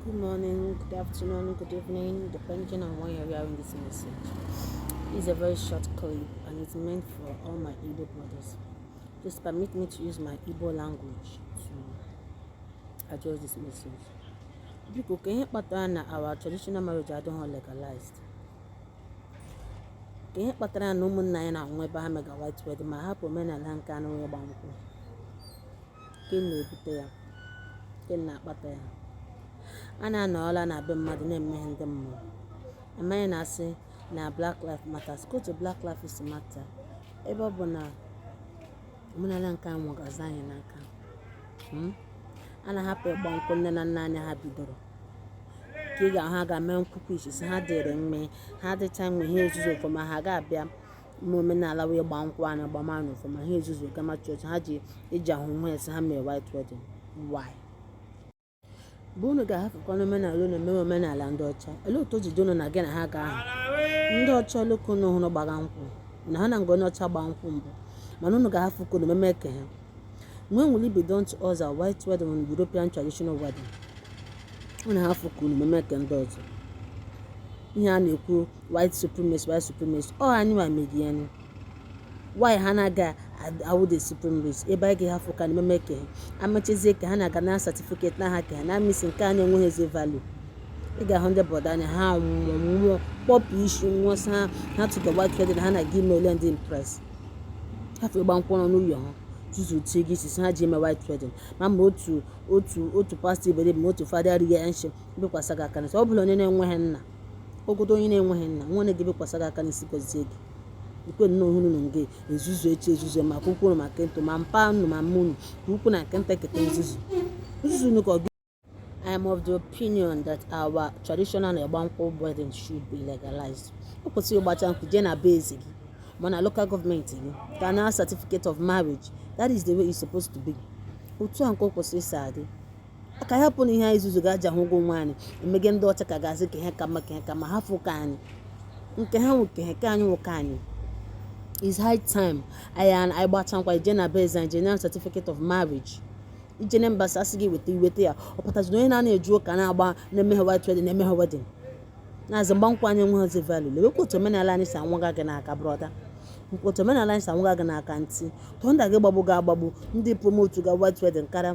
Good morning, good afternoon, good evening, depending on when you're hearing this message. It's a very short clip and it's meant for all my Igbo brothers. Just permit me to use my Igbo language to address this message. Biko, kee ihe kpatara na our traditional marriage adịghị legalized? Kee ihe kpatara na ụmụnna anyị na-anwụ ebe ha mega white wedding ma hapụ omenala nke anyị wụ ịgba nkwụ? kee ihe na-ebute ya kee ihe na-akpata ya a na-anọrọla na be mmadụ na-eme ihe ndị mmụọ amaghị na-asị na black life matters kee otu black life si matter ebe ọ bụ na omenala nke anyị nwụgazi anyị n'aka hmm? a na-ahapụ ịgba nkwụ nne na nna anyị ha bidoro ka ị ga-ahụ ha ga-eme nkwụkwọ ichisi ha dịrị mma ha dịcha mgbe ha ezuzuo ọfụma ha ga-abịa ime omenala wụ ịgba nkwụ a na-agba ma ọfụma ha ezuzu gama chọọchị ha ji eji ahụ nwa esi ha mere white wedding why bụ unu ga-ahafụkwanụ omenala unu emewe omenala ndị ọcha olee otu o ji dị unu na gị na ha ga-aha ndị ọcha ole ka unu hụrụ gbara nkwụ na ha na nga onye ọcha gbaa nkwụ mbụ mana unu ga-ahafụ ke unu meme ke ha when will it be done to us na white wedding wụ European traditional wedding unu hafụ ke unu meme ke ndị ọzọ ihe a na-ekwu white supremacy white supremacy ọ anyị nwa medi ya nụ why ha na-aga awụ the supreme race ebe anyị ga-ahafụ ke anyị meme ke ha amachezie ka ha na-aga na certificate na ha ke ha na amisi nke anyị enweghịzi value ị ga-ahụ ndị brọda anyị ha nwụọ nwụọ kpọpụ isi nwụọ sa ha ha tụga white wedding ha na-aga ime ole ndị impress hafụ ịgba nkwụ nọ n'ụlọ ha tutu tie gị isi ha ji eme white wedding ma ma otu otu otu pastọ iberibe ma otu fada rie nshị bikwasa gị aka n'isi ọ bụla onye na-enweghị nna ogodo onye na-enweghị nna nwaanyị ga-ebikwasa gị aka n'isi gọzie gị i kwe nnọọ unu na nge ezuzu echi ezuzu ma ke ukwu ma ke nta ma mpa unu ma mma unu ke ukwu na ke nta eketa nzuzu nzuzu unu ka ọ I am of the opinion that our traditional ịgba nkwụ wedding should be legalized. O kwesịrị ị gbachaa nkwụ jee na be eze gị ma na local gọọmenti gị ka na certificate of marriage that is the way it's supposed to be. Otu ahụ ka o kwesịrị isi adị. ka ya pụrụ ihe anyị zuzu ga-aja hụ ụgwọ nwa anyị emege ndị ọcha ka ga-asị ka ha ka mma ka ha ka ma ha fụ ka anyị nke ha nwoke ha ka anyị nwoke anyị is high time anyị anyị gbachaa nkwụ i jee na be eze e nye gị certificate of marriage i jee na embassy a sị gị weta i weta ya ọ pụtazi na onye na-anaghị eje ụka na-agba na-emeghị white wedding na-emeghị wedding na-asị ịgba nkwụ anyị enweghịzi value lewekwa otu omenala anyị si anwụga anyị n'aka brọda otu omenala anyị si anwụga anyị n'aka ntị thunder ga-agbagbu ga-agbagbu ndị promotu ga white wedding karịa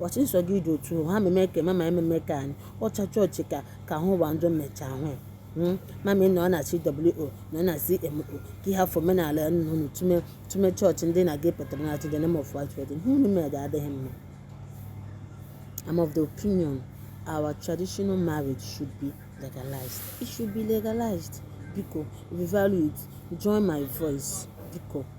Wasi nsọ gị dị otu ha meme ka mama ememe ka ndị ọcha chọọchị ka ka hụ ụwa njọ mmecha ahụ ya hmm? mama ị nọ na CWO nọ na CMO ka ihe afọ omenala unu tume tume chọọchị ndị na gị pụtara na atụ the name of white wedding ihe unu mere adịghị mma I'm of the opinion our traditional marriage should be legalized it should be legalized biko if you value it join my voice biko